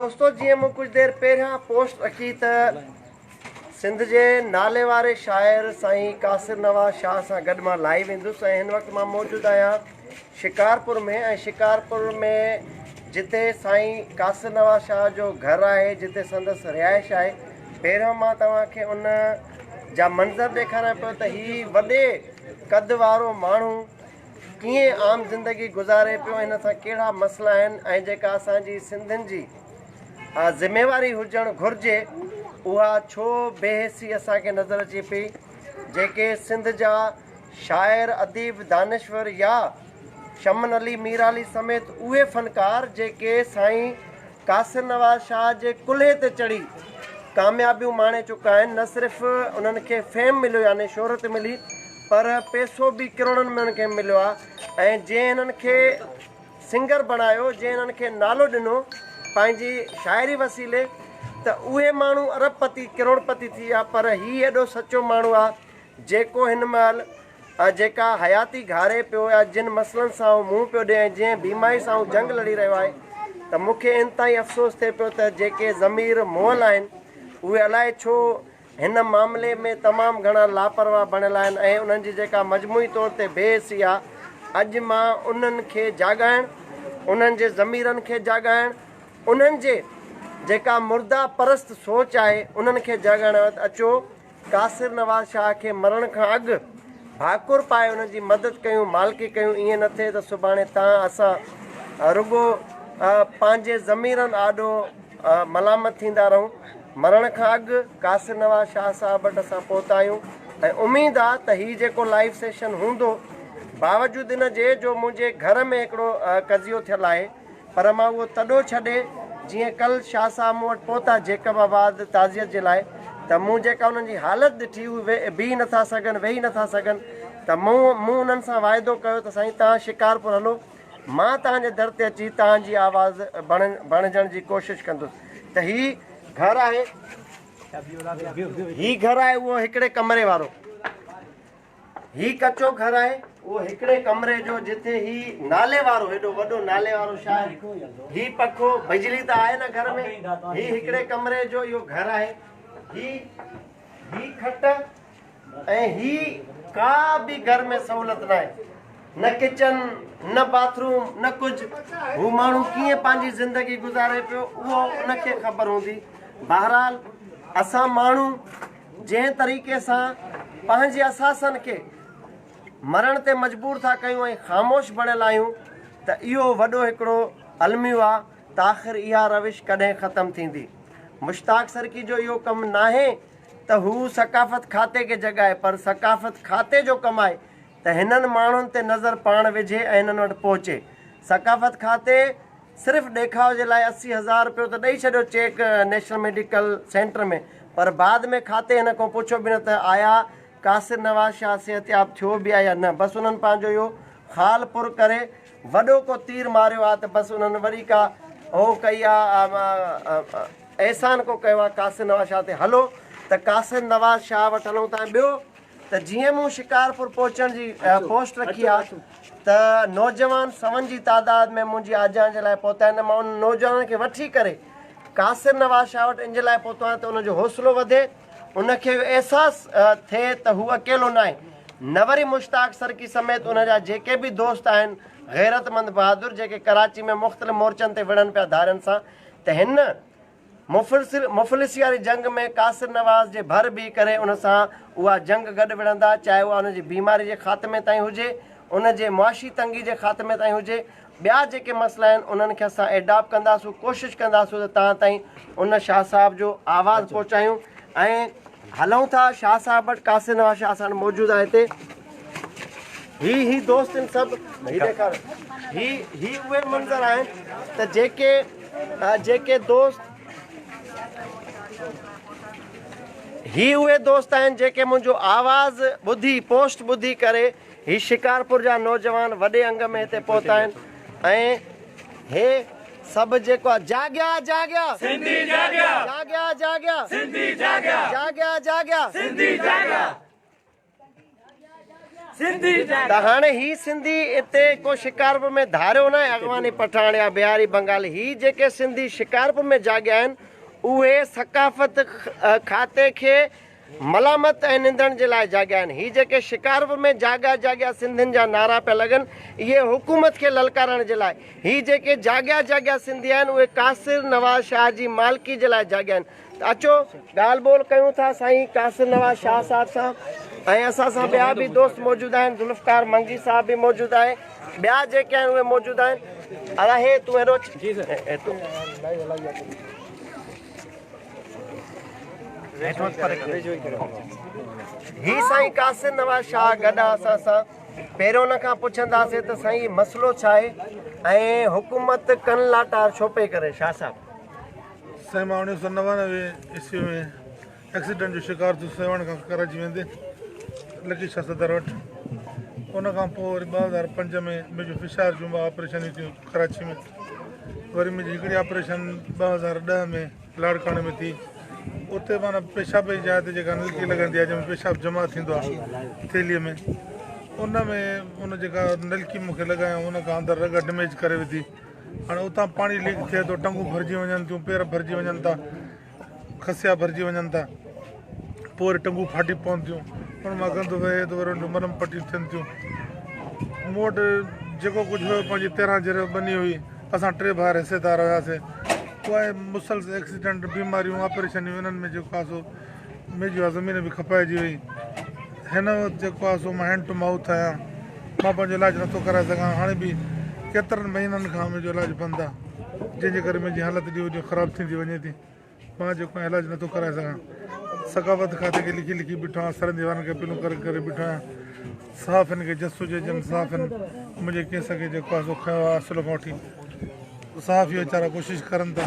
دوستو جيئن مون ڪجھ دير پهريان پوسٽ رکي ته سنڌ جي ناليواري شاعر سائين قاصر نواز شاهه سان گڏ مان لائيو ايندس ۽ هن وقت مان موجود آهيان شڪارپور ۾ ۽ شڪارپور ۾ جتي سائين قاصر نواز شاهه جو گهر آهي جتي سندس رهائش آهي پهريان مان توهان کي ان جا منظر ڏيکاريان پيو ته هي وڏي قد وارو ماڻهو ڪيئن عام زندگي گذاري پيو هن سان ڪهڙا مسئلا آهن ۽ جيڪا اسان جي سنڌين جي ذميواري هجڻ گهرجي اها ڇو بي حسي اسان کي نظر اچي پئي جيڪي سنڌ جا شاعر اديب دانشور يا شمن علي مير علي سميت اهي فنڪار جيڪي سائين قاصر نواز شاهه جي ڪلهي تي چڙهي ڪاميابيون ماڻي چڪا آهن نه صرف انهن کي فيم مليو يعني شهرت ملي پر پيسو به ڪروڙن ۾ هنن کي مليو آهي ۽ جنهن هنن کي سنگر بڻايو جنهن هنن کي نالو ڏنو پنهنجي شاعري وسيلي ته اهي ماڻهو ارب پتي ڪروڙ پتي ٿي ويا پر هي ايڏو سچو ماڻهو آهي جيڪو هن مهل جيڪا حياتي گهاري پيو يا جن مسئلن سان هو منهن پيو ڏي ۽ جنهن بيماري سان هو جنگ لڙي رهيو آهي ته مون کي انتهائي افسوس ٿئي پيو ته جيڪي ضمير مئل آهن اهي الائي ڇو هن معاملي ۾ تمام گهڻا لاپرواهه بڻيل آهن ۽ انهن جي جيڪا مجموعي طور تي بي حسي آهي، اڄ مان انهن کي جاڳائڻ، انهن جي ضميرن کي جاڳائڻ، انهن جي جيڪا مرده پرست سوچ آهي، انهن کي جاڳائڻ آيو آهيان. اچو قاصر نواز شاهه کي مرڻ کان اڳ ڀاڪر پائي انهن جي مدد ڪيون، مالڪي ڪيون، ائين نه ٿئي ته سڀاڻي تان اسان رڳو پنهنجي ضميرن آڏو ملامت ٿيندا رهون. مرڻ کان اڳ قاصر نواز شاهه صاحب وٽ اسان پهتا آهيون ۽ اميد آ ته هي جيڪو لائيو سيشن هوندو باوجود ان جي جو منهنجي گهر ۾ هڪڙو قضيو ٿيل آهي پر مان اهو تڏو ڇڏي جيئن ڪل شاهه صاحب مون وٽ پهتا جيڪب آباد تعزيت جي لاء ته مون جيڪا انهن جي حالت ڏٺي هو بيهي نٿا سگهن ويهي نٿا سگهن ته مون انهن سان واعدو ڪيو ته سائين توهان شڪارپور هلو مان توهان جي در تي اچي توهان جي آواز بڻجڻ جي ڪوشش ڪندس ته هي گهر آهي. هي گهر آهي اهو هڪڙي ڪمري وارو. هي ڪچو گهر آهي اهو هڪڙي ڪمري جو جتي هي نالي وارو هيڏو وڏو نالي وارو شاعر هي پکو بجلي ته آهي نه گهر ۾ هي هڪڙي ڪمري جو اهو گهر آهي هي هي کٽ ۽ هي ڪا به گهر ۾ سهولت ناهي نه ڪچن نه باٿ روم نه ڪجهه هو ماڻهو ڪيئن پنهنجي زندگي گذاري پيو اهو ان کي خبر هوندي بهرحال اسان ماڻهو جنهن طريقي سان پنهنجي اثاثن کي مرڻ تي مجبور ٿا ڪيون ۽ خاموش بڻيل آهيون ته اهو وڏو هڪڙو الميو آ ته آخر اها روش ڪڏهن ختم ٿيندي مشتاق سرڪي جو اهو ڪم ناهي ته هو ثقافت کاتي کي جڳائي پر ثقافت کاتي جو ڪم آهي ته هنن ماڻهن تي نظر پاڻ وجهي ۽ هنن وٽ پهچي. ثقافت کاتي صرف ڏيکاء جي لاء اسي هزار رپيو ته ڏئي ڇڏيو چيڪ نيشنل ميڊيڪل سينٽر ۾ پر بعد ۾ کاتي هن کان پڇيو به نه ته آيا قاصر نواز شاهه صحتياب ٿيو به آهي يا نه بس انهن پنهنجو اهو خال پر ڪري وڏو ڪو تير ماريو آ ته بس انهن وري ڪا هو ڪئي آ احسان ڪو ڪيو آ قاصد نواز شاهه تي هلو ته قاصد نواز شاهه وٽ هلون ٿا ۽ ٻيو ته جيئن مون شڪارپور پهچڻ جي پوسٽ رکي آ ته نوجوان سون جي تعداد ۾ منهنجي آجيان جي لاء پهتا آهن ته مان انهن نوجوانن کي وٺي ڪري قاصد نواز شاهه وٽ ان جي لاء پهتو آهيان ته انهن جو حوصلو وڌي ان کي اهو احساس ٿئي ته هو اڪيلو ناهي نه وري مشتاق سرڪي سميت ان جا جيڪي به دوست آهن غيرتمند بهادر جيڪي ڪراچي ۾ مختلف مورچن تي وڙهن پيا ڌارين سان ته هن مفلسي واري جنگ ۾ قاصر نواز جي ڀر بيهي ڪري ان سان اها جنگ گڏ وڙهندا چاهي اها ان جي بيماري جي خاتمي تائين هجي ان جي معاشي تنگي جي خاتمي تائين هجي ٻيا جيڪي مسئلا آهن انهن کي اسان ايڊاپ ڪنداسون ڪوشش ڪنداسون ته تان تائين ان شاهه صاحب جو آواز پهچايون ۽ هلون ٿا شاهه صاحب وٽ قاصد نواز شاهه اسان موجود آهي هتي هي هي دوست ان سب هي ڏيکار هي هي اهي منظر آهن ته جيڪي جيڪي دوست هي اهي دوست آهن جيڪي منهنجو آواز ٻڌي پوسٽ ٻڌي ڪري هي شڪارپور جا نوجوان وڏي انگ ۾ هتي پهتا آهن ۽ هي سڀ جيڪو آهي جاڳيا جاڳيا سنڌي جاڳيا جاڳيا جاڳيا سنڌي جاڳيا جاڳيا جاڳيا سنڌي جاڳيا سنڌي جاڳيا ته هاڻي هي سنڌي اتي ڪو شڪارپور ۾ ڌاريو ناهي اغواني پٺاڻ يا بهاري بنگالي هي جيڪي سنڌي شڪارپور ۾ جاڳيا آهن اهي ثقافت کاتي کي ملامت ۽ نندڻ جي لاء جاڳيا آهن. هي جيڪي شڪارپور ۾ جاڳيا جاڳيا سنڌين جا نعرا پيا لڳن، اهي حڪومت کي للڪارڻ جي لاء. هي جيڪي جاڳيا جاڳيا سنڌي آهن، اهي قاصر نواز شاهه جي مالڪي جي لاء جاڳيا آهن. ته اچو ڳالهه ٻولهه ڪيون ٿا سائين قاصر نواز شاهه صاحب سان ۽ اسان سان ٻيا به دوست موجود آهن، ذوالفقار منگي صاحب به موجود آهي، ٻيا جيڪي آهن اهي موجود آهن. ادا هي تون هيڏو اچ. هي سائين قاصد نواز شاهه گڏ آ اسان سان پهريون ان کان پڇنداسين ته سائين هي مسئلو ڇا آهي ۽ حڪومت ڪن لاٽار ڇو پئي ڪري شاهه صاحب. سائين مان اوڻيھ سؤ نوانوي عيسوي ۾ ايڪسيڊنٽ جو شڪار ٿيس سيوهڻ کان ڪراچي ويندي لڪي شاهه صدر وٽ ان کان پوء وري ٻه هزار پنج ۾ ميجو فشار جون ٻه آپريشنيون ٿيون ڪراچي ۾ وري منهنجي هڪڙي آپريشن ٻه هزار ڏهه ۾ لاڙڪاڻي ۾ ٿي اتي مانا پيشاب جي جاء تي جيڪا نلڪي لڳندي آهي جنهن ۾ پيشاب جمع ٿيندو آهي ٿيلي ۾ ان ۾ ان جيڪا نلڪي مون کي لڳايو ان کان اندر رڳ ڊميج ڪري وڌي هاڻي اتان پاڻي ليڪ ٿئي ٿو ٽنگون ڀرجي وڃن ٿيون پير ڀرجي وڃن ٿا کسيا ڀرجي وڃن ٿا پوء وري ٽنگون ڦاٽي پون ٿيون ان مان گند وهي ته وري ان جون مرم پٽيون ٿين ٿيون مون وٽ جيڪو ڪجهه هيو پنهنجي تيرهن جريو ٻني هئي اسان ٽي ڀائر حصيدار هياسي پوء مسلس ايڪسيڊنٽ بيماريون آپريشنيون انهن ۾ جيڪو آسو ميجي زمين به کپائجي وئي هن وقت جيڪو آهي سو مان هينڊ ٽو مائوٿ آهيان مان پنهنجو علاج نٿو ڪرائي سگهان هاڻي به ڪيترن مهينن کان منهنجو علاج بند آهي جنهن جي ڪري منهنجي حالت ڏينهون ڏينهن خراب ٿيندي وڃي ٿي مان جيڪو آهي علاج نٿو ڪرائي سگهان ثقافت کاتي کي لکي لکي بيٺو آهيان سرن ديوارن کي اپيلون ڪري ڪري بيٺو آهيان صاف هن کي جس هجي جن صاف هن منهنجي ڪيس کي جيڪو آهي سو کنيو آهي اصل کان وٺي صاف هي ويچارا ڪوشش ڪرن ٿا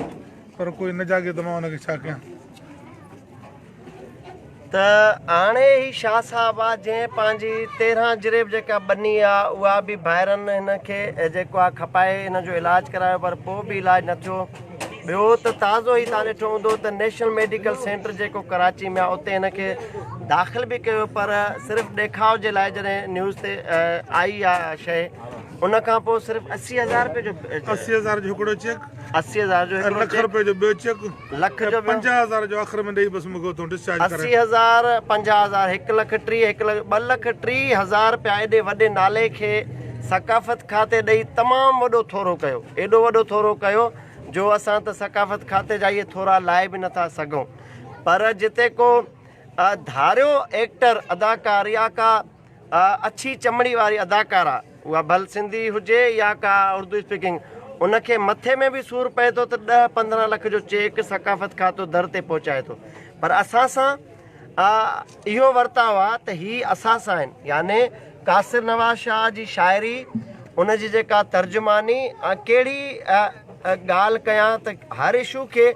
پر ڪوئي نه جاڳي ته مان ان کي ڇا ڪيان ته هاڻي هي شاهه صاحب آ جنهن پنهنجي تيرهن جريب جيڪا ٻني آ اها به ڀائرن هن کي جيڪو آ کپائي هن جو علاج ڪرايو پر پوء به علاج نه ٿيو ٻيو ته تازو هي تان ڏٺو هوندو ته نيشنل ميڊيڪل سينٽر جيڪو ڪراچي ۾ آ اتي هن کي داخل به ڪيو پر صرف ڏيکاء جي لاء جڏهن نيوز تي آئي آ شيء ان کان پوء صرف اسي هزار روپيه جو اسي هزار جو هڪڙو چيڪ اسي هزار جو هڪڙو چيڪ لک روپيه جو ٻيو چيڪ لک جو ٻيو. پنجاهه هزار جو آخر ۾ ڏئي بس مون کي اتان ڊسچارج ڪرائي. اسي هزار، پنجاهه هزار، هڪ لک ٽيهه، هڪ لک، ٻه لک ٽيهه هزار رپيا ايڏي وڏي نالي کي ثقافت کاتي ڏئي تمام وڏو ٿورو ڪيو. ايڏو وڏو ٿورو ڪيو جو اسان ته ثقافت کاتي جا اهي ٿورا لائي به نه ٿا سگهون. پر جتي ڪو ڌاريو ايڪٽر، اداڪار يا ڪا اڇي چمڙي واري اداڪارا اها ڀل سنڌي هجي يا ڪا اردو اسپيڪنگ ان کي مٿي ۾ به سور پئي ٿو ته ڏهه پندرهن لک جو چيڪ ثقافت کاتو در تي پهچائي ٿو پر اسان سان اهو ورتاء آهي ته هي اسان سان آهن يعني قاصر نواز شاهه جي شاعري ان جي جيڪا ترجماني ڪهڙي ڳالهه ڪيان ته هر اشو کي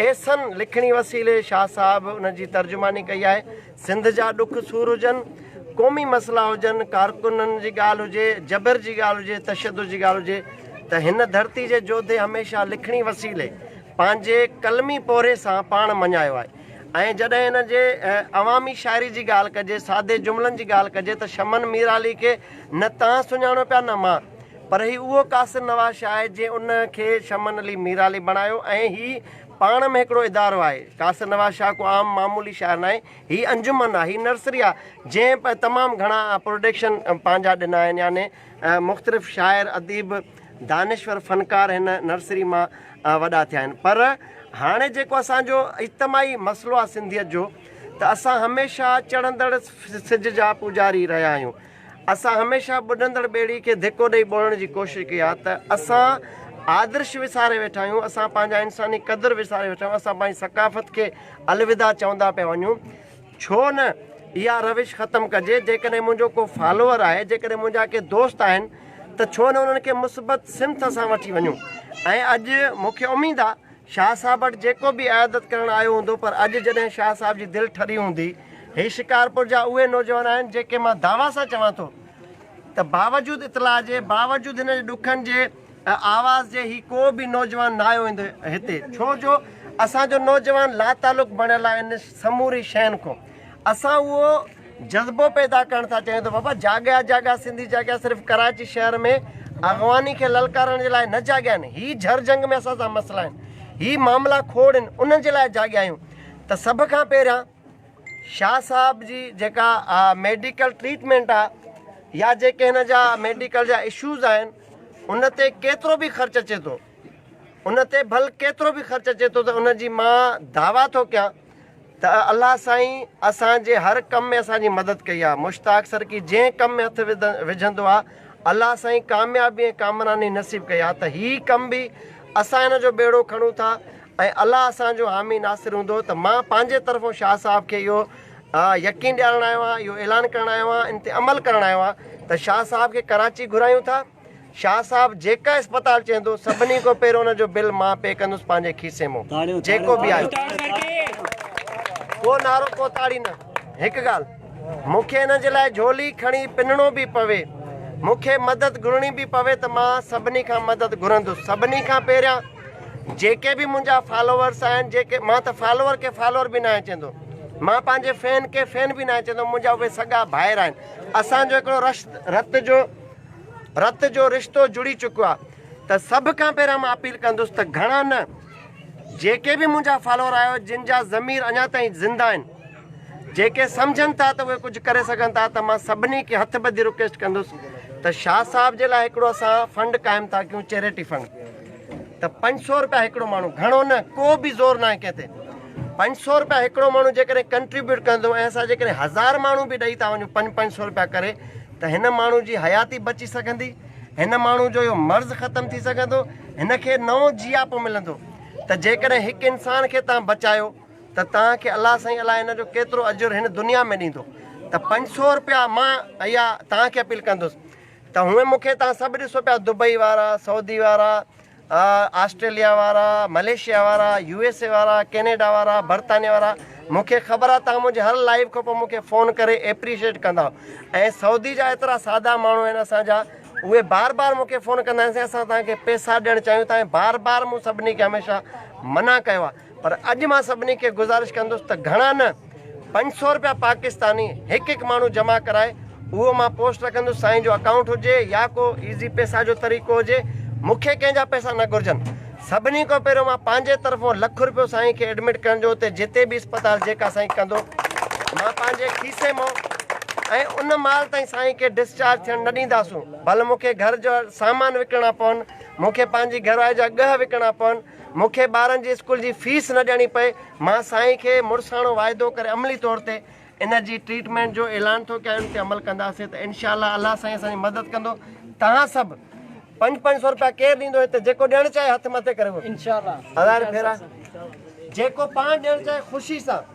احسن لکڻي وسيلي شاهه صاحب ان جي ترجماني ڪئي آهي سنڌ جا ڏک سور هجن، قومي مسئلا هجن، ڪارڪنن جي ڳالهه هجي، جبر جي ڳالهه هجي، تشدد جي ڳالهه هجي ته هن ڌرتي جي جوڌي هميشه لکڻي وسيلي پنهنجي قلمي پورهيي سان پاڻ مڃايو آهي ۽ جڏهن هن جي عوامي شاعري جي ڳالهه ڪجي، سادي جملن جي ڳالهه ڪجي ته شمن ميرعلي کي نه تان سڃاڻو پيا نه مان پر هي اهو قاصر نواز شاهه آهي جنهن ان کي شمن علي ميرعلي بڻايو ۽ هي پاڻ ۾ هڪڙو ادارو آهي. قاصر نواز شاهه ڪو عام معمولي شاعر ناهي. هي انجمن آهي. هي نرسري آهي. جنهن تمام گهڻا پروڊڪشن پنهنجا ڏنا آهن. يعني مختلف شاعر، اديب، دانشور، فنڪار هن نرسري مان وڏا ٿيا آهن. پر هاڻي جيڪو اسان جو اجتماعي مسئلو آهي سنڌيت جو ته اسان هميشه چڙهندڙ سج جا پوڄاري رهيا آهيون. اسان هميشه ٻڏندڙ ٻيڙي کي ڌڪو ڏئي ٻوڙڻ جي ڪوشش ڪئي آهي ته اسان آدرش وساري ويٺا آهيون، اسان پنهنجا انساني قدر وساري ويٺا آهيون، اسان پنهنجي ثقافت کي الوداع چوندا پيا وڃون، ڇو نه اها روش ختم ڪجي، جيڪڏهن منهنجو ڪو فالوور آهي، جيڪڏهن منهنجا ڪي دوست آهن ته ڇو نه انهن کي مثبت سمت سان وٺي وڃون ۽ اڄ مونکي اميد آهي. شاهه صاحب وٽ جيڪو به عيادت ڪرڻ آيو هوندو پر اڄ جڏهن شاهه صاحب جي دل ٺري هوندي. هي شڪارپور جا اهي نوجوان آهن جيڪي مان دعويٰ سان چوان ٿو ته باوجود اطلاع جي باوجود هن جي ڏکن جي آواز جي هي ڪو به نوجوان نه آيو هوندو هتي ڇو جو اسان جو نوجوان لاتعلق بڻيل آهن سموري شين کون. اسان اهو جذبو پيدا ڪرڻ ٿا چاهيون ته بابا جاڳيا جاڳيا سنڌي جاڳيا صرف ڪراچي شهر ۾ اغواني کي للڪارڻ جي لاء نه جاڳيا آهن هي جھر جنگ ۾ اسان سان مسئلا آهن هي معاملا کوڙ آهن انهن جي لاء جاڳيا آهيون ته سڀ کان پهريان شاهه صاحب جي جيڪا ميڊيڪل ٽريٽمينٽ آهي يا جيڪي هن جا ميڊيڪل جا اشوز آهن ان تي ڪيترو به خرچ اچي ٿو ان تي ڀل ڪيترو به خرچ اچي ٿو ته ان جي مان دعويٰ ٿو ڪيان ته الله سائين اسان جي هر ڪم ۾ اسان جي مدد ڪئي آهي مشتاق سرڪي جنهن ڪم ۾ هٿ وجهندو آهي الله سائين ڪاميابي ۽ ڪامراني نصيب ڪئي آهي ته هي ڪم به اسان هن جو ٻيڙو کڻون ٿا ۽ الله اسان جو حامي ناصر هوندو ته مان پنهنجي طرفون شاهه صاحب کي اهو يقين ڏيارڻ آيو آهيان اهو اعلان ڪرڻ آيو آهيان ان تي عمل ڪرڻ آيو آهيان ته شاهه صاحب کي ڪراچي گهرايون ٿا شاهه صاحب جيڪا اسپتال چهندو سڀني کان پهريون ان جو بل مان پي ڪندس پنهنجي کيسي مون جيڪو به آيو ڪو نارو ڪو تاڙي نه هڪ ڳالهه مون کي ان جي لاء جھولي کڻي پنڻو به پوي مون کي مدد گھرڻي به پوي ته مان سڀني کان مدد گھرندس سڀني کان پهريان جيڪي به منهنجا فالوورس آهن جيڪي مان ته فالوور کي فالوور به ناهي چهندو مان پنهنجي فين کي فين به ناهي چهندو منهنجا اهي سڳا ڀائر آهن اسان جو هڪڙو رشت رت جو رت جو رشتو جڙي چڪو آ ته سڀ کان پهريان مان اپيل ڪندس ته گهڻا نه جيڪي به منهنجا فالوور آهيو جن جا ضمير اڃا تائين زنده آهن جيڪي سمجهن ٿا ته اهي ڪجهه ڪري سگهن ٿا ته مان سڀني کي هٿ ٻڌي رڪويسٽ ڪندس ته شاهه صاحب جي لاء هڪڙو اسان فنڊ قائم ٿا ڪيون چيريٽي فنڊ ته پنج سو روپيا هڪڙو ماڻهو گهڻو نه ڪو به زور نه آهي ڪنهن تي پنج سو روپيا هڪڙو ماڻهو جيڪڏهن ڪنٽريبيوٽ ڪندو ۽ اسان جيڪڏهن هزار ماڻهو به ڏئي ٿا وڃون پنج پنج سو روپيا ڪري ته هن ماڻهو جي حياتي بچي سگهندي، هن ماڻهو جو اهو مرض ختم ٿي سگهندو، هن کي نئون جياپو ملندو ته جيڪڏهن هڪ انسان کي توهان بچايو ته توهان کي الله سائين الاء ان جو ڪيترو اجر هن دنيا ۾ ڏيندو ته پنج سؤ روپيا مان اها توهان کي اپيل ڪندس ته هونئن مون کي توهان سڀ ڏسو پيا دبئي وارا، سعودي وارا، آسٽريليا وارا، ملائيشيا وارا، يو ايس اي وارا، ڪينيڊا وارا، برطانيا وارا مون کي خبر آ تهان منهنجي هر لائيو کان پوء مون کي فون ڪري ايپريشيٽ ڪندا ۽ سعودي جا ايترا سادا ماڻهو آهن اسان جا اهي بار بار مون کي فون ڪندا آهن سائين اسان تهان کي پيسا ڏيڻ چاهيون ٿا ۽ بار بار مون سڀني کي هميشه منع ڪيو آ پر اڄ مان سڀني کي گذارش ڪندس ته گهڻا نه پنج سئو روپيا پاڪستاني هڪ هڪ ماڻهو جمع ڪرائي اهو مان پوسٽ رکندس سائين جو اڪائونٽ هجي يا ڪو ايزي پيسا جو طريقو هجي مون کي ڪنهن جا پيسا نه گهرجن سڀني کان پهريون مان پنهنجي طرفون لک روپيو سائين کي ايڊمٽ ڪرڻ جو اتي جتي به اسپتال جيڪا سائين ڪندو مان پنهنجي کيسي مون ۽ ان مال تائين سائين کي ڊسچارج ٿيڻ نه ڏينداسون ڀل مون کي گهر جو سامان وڪڻڻا پون مون کي پنهنجي گهرواري جا ڳهه وڪڻڻا پون مون کي ٻارن جي اسڪول جي فيس نه ڏيڻي پئي، مان سائين کي مڙساڻو واعدو ڪري عملي طور تي ان جي ٽريٽمينٽ جو اعلان ٿو ڪيان ان تي عمل ڪنداسين ته انشاء الله الله سائين اسان جي مدد ڪندو توهان سڀ پنج پنج سو روپيا ڪير ڏيندو هتي جيڪو ڏيڻ چاهي هٿ مٿي ڪري وٺو انشاء الله هزار ڦيرا جيڪو پاڻ ڏيڻ چاهي خوشي سان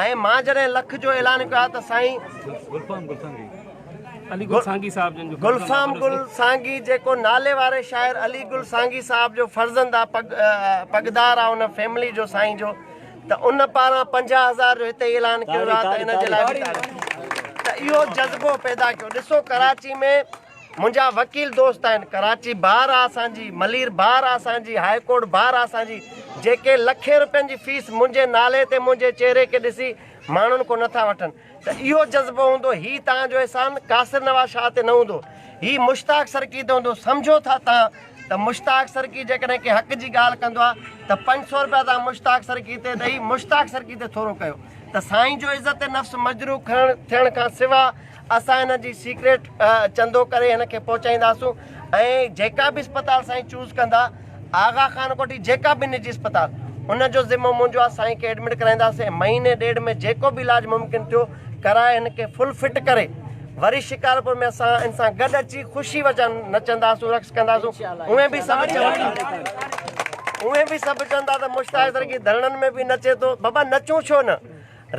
۽ مان جڏهن لک جو اعلان ڪيو آهي ته سائين گلفام گل سانگي جيڪو نالي واري شاعر علي گل سانگي صاحب جو فرزند آ پڳ پڳدار آ ان فيملي جو سائين جو ته ان پاران پنجاهه هزار جو هتي اعلان ڪيو ويو آ ته ان جي لاء ته اهو جذبو پيدا ڪيو ڏسو ڪراچي ۾ منهنجا وڪيل دوست آهن ڪراچي بار آ اسان جي ملير بار آ اسان جي هاء ڪورٽ بار آ اسان جي جيڪي لکين روپين جي فيس منهنجي نالي تي منهنجي چهري کي ڏسي ماڻهن کون نٿا وٺن ته اهو جذبو هوندو هي توهان جو احسان قاصر نواز شاهه تي نه هوندو هي مشتاق سرڪي تي هوندو سمجهو ٿا توهان ته مشتاق سرڪي جيڪڏهن ڪنهن حق جي ڳالهه ڪندو آ ته پنج سو روپيا توهان مشتاق سرڪي تي ڏئي مشتاق سرڪي تي ٿورو ڪيو ته سائين جو عزت نفس مجروح کڻڻ ٿيڻ کان سوا اسان هن جي سيڪريٽ چندو ڪري هن کي پهچائينداسون ۽ جيڪا به اسپتال سائين چوز ڪندا آغا خان ڪوٺي جيڪا به نجي اسپتال ان جو ذمو منهنجو آ سائين کي ايڊمٽ ڪرائينداسين مهيني ڏيڍ ۾ جيڪو به علاج ممڪن ٿيو ڪرائي هن کي فل فٽ ڪري وري شڪارپور ۾ اسان ان سان گڏ اچي خوشي وچن نچنداسون رقص ڪنداسون اوهين به سڀ چوندا اوهين به سڀ چوندا ته مشتاق درگي ڌرڻن ۾ به نچي ٿو بابا نچون ڇو نه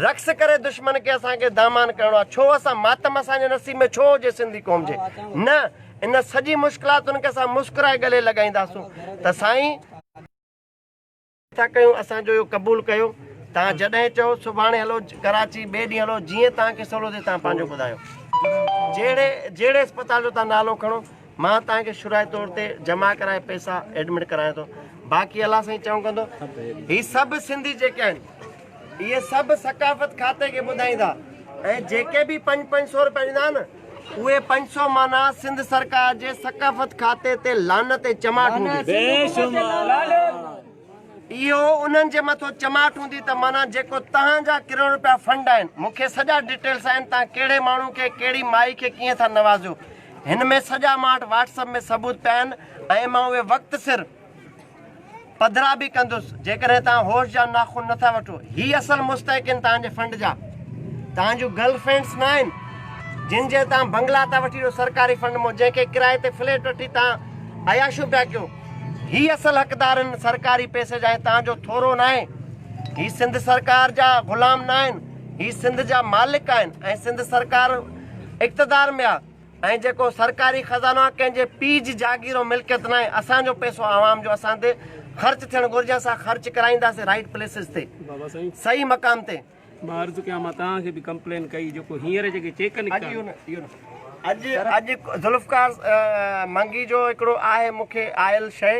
رقص ڪري دشمن کي اسان کي دامان ڪرڻو آ ڇو اسان ماتم اسان جي نصيب ۾ ڇو هجي سنڌي قوم جي نه ان سڄي مشڪلاتن کي اسان مسڪرائي گلي لڳائينداسون ته سائين ٿا ڪيون اسان جو اهو قبول ڪيو تان جڏهن چئو سڀاڻي هلو ڪراچي ٻئي ڏينهن هلو جيئن تان کي سولو ٿي تان پنهنجو ٻڌايو جهڙي جهڙي اسپتال جو تان نالو کڻو مان تان کي شرائي طور تي جمع ڪرائي پئسا ايڊمٽ ڪرايان ٿو باقي الله سائين چئون ڪندو هي سڀ سنڌي جيڪي آهن اهي سڀ ثقافت کاتي کي ٻڌائيندا ۽ جيڪي به پنج پنج سو روپيا ڏيندا نه اهي پنج سو معنيٰ سنڌ سرڪار جي ثقافت کاتي تي لعنت ۽ چماٽ هوندي. اهو انهن جي مٿو چماٽ هوندي ته معنيٰ جيڪو تهان جا ڪروڙ روپيا فنڊ آهن مون کي سڄا ڊيٽيلس آهن تهان ڪهڙي ماڻهو کي ڪهڙي مائي کي ڪيئن ٿا نوازيو هن ۾ سڄا مان وٽ واٽس اپ ۾ ثبوت پيا آهن ۽ مان اهي وقت سر پڌرا به ڪندس جيڪڏهن توهان هوش جا ناخن نٿا وٺو هي اصل مستحقين توهان جي فنڊ جا توهان جون گرل فرينڊس نه آهن جن جي توهان بنگلا ٿا وٺي سرڪاري فنڊ مون جنهن کي ڪرائي تي فليٽ وٺي توهان عياشو پيا ڪيو هي اصل حقدار آهن سرڪاري پيسي جا توهان جو ٿورو نه آهي هي سنڌ سرڪار جا غلام نه آهن هي سنڌ جا مالڪ آهن ۽ سنڌ سرڪار اقتدار ۾ آهي ۽ جيڪو سرڪاري خزانو آهي ڪنهن جي پيء جي جاگير ۽ ملڪيت ناهي اسان جو پئسو عوام جو اسان تي خرچ ٿيڻ گهرجي اسان خرچ ڪرائينداسين رائيٽ پليسز تي صحيح مقام تي. مان عرض ڪيان مان توهان کي به ڪمپلين ڪئي جيڪو هينئر جيڪي چيڪ نڪتا. اڄ ذوالفقار منگي جو هڪڙو آهي مون کي آيل شيء.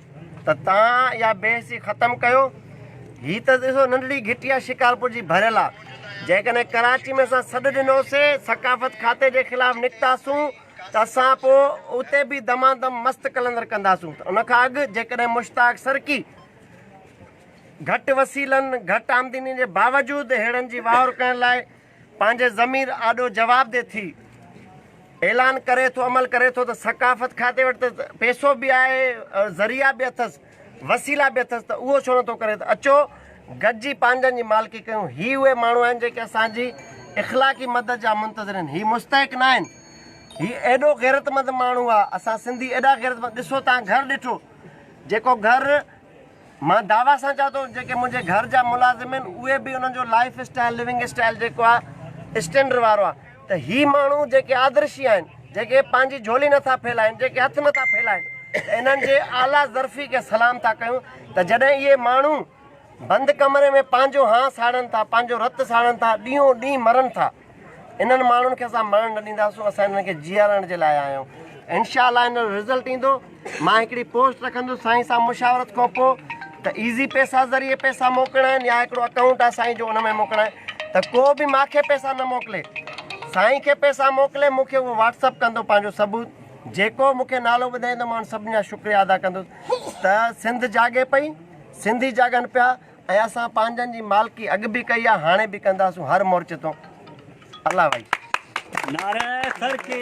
ته تان اها بي حسي ختم ڪيو. هي ته ڏسو ننڍڙي گهٽي آهي شڪارپور جي ڀريل آ. جيڪڏهن ڪراچي ۾ اسان سڏ ڏنو سي ثقافت کاتي جي خلاف نڪتا سون ته اسان پو اتي به دما دم مست قلندر ڪندا سون ته ان کان اڳ جيڪڏهن مشتاق سرڪي گهٽ وسيلن گهٽ آمدني جي باوجود هيڙن جي واهور ڪرڻ لاء پنهنجي ضمير آڏو جواب ڏي ٿي اعلان ڪري ٿو عمل ڪري ٿو ته ثقافت کاتي وٽ ته پيسو به آهي ذريعا به اٿس وسيلا به اٿس ته اهو ڇو نه ٿو ڪري ته اچو گڏجي پنهنجن جي مالڪي ڪيون هي اهي ماڻهو آهن جيڪي اسان جي اخلاقي مدد جا منتظر آهن هي مستحق نه آهن هي ايڏو غيرتمند ماڻهو آهي اسان سنڌي ايڏا غيرتمند ڏسو تان گهر ڏٺو جيڪو گهر مان دعويٰ سان چوان ٿو جيڪي منهنجي گهر جا ملازم آهن اهي به انهن جو لائيف اسٽائيل لوينگ اسٽائيل جيڪو آهي اسٽينڊر وارو آهي ته هي ماڻهو جيڪي آدرشي آهن جيڪي پنهنجي جهولي نٿا ڦهلائين جيڪي هٿ نٿا ڦهلائين ته انهن جي اعليٰ ظرفي کي سلام ٿا ڪيون ته جڏهن اهي ماڻهو بند ڪمري ۾ پنهنجو هانء ساڙن ٿا پنهنجو رت ساڙن ٿا ڏينهون ڏينهن مرن ٿا. انهن ماڻهن کي اسان مرڻ نه ڏينداسون اسان انهن کي جيارڻ جي لاء آيا آهيون انشاء الله ان جو رزلٽ ايندو مان هڪڙي پوسٽ رکندس سائين سان مشاورت کان پوء ته ايزي پيسا ذريعي پيسا موڪلڻا آهن يا هڪڙو اڪائونٽ آهي سائين جو ان ۾ موڪلڻا آهن ته ڪو به ماکي پيسا نه موڪلي سائين کي پيسا موڪلي مونکي اهو واٽس اپ ڪندو پنهنجو ثبوت جيڪو مونکي نالو ٻڌائيندو مان سڀني جا شڪريا ادا ڪندس ته سنڌ جاڳي پئي سنڌي جاڳن پيا ۽ اسان پنهنجن جي مالڪي اڳ به ڪئي آ هاڻي به ڪنداسون هر مورچي تون الله وائي. نعره ترقي.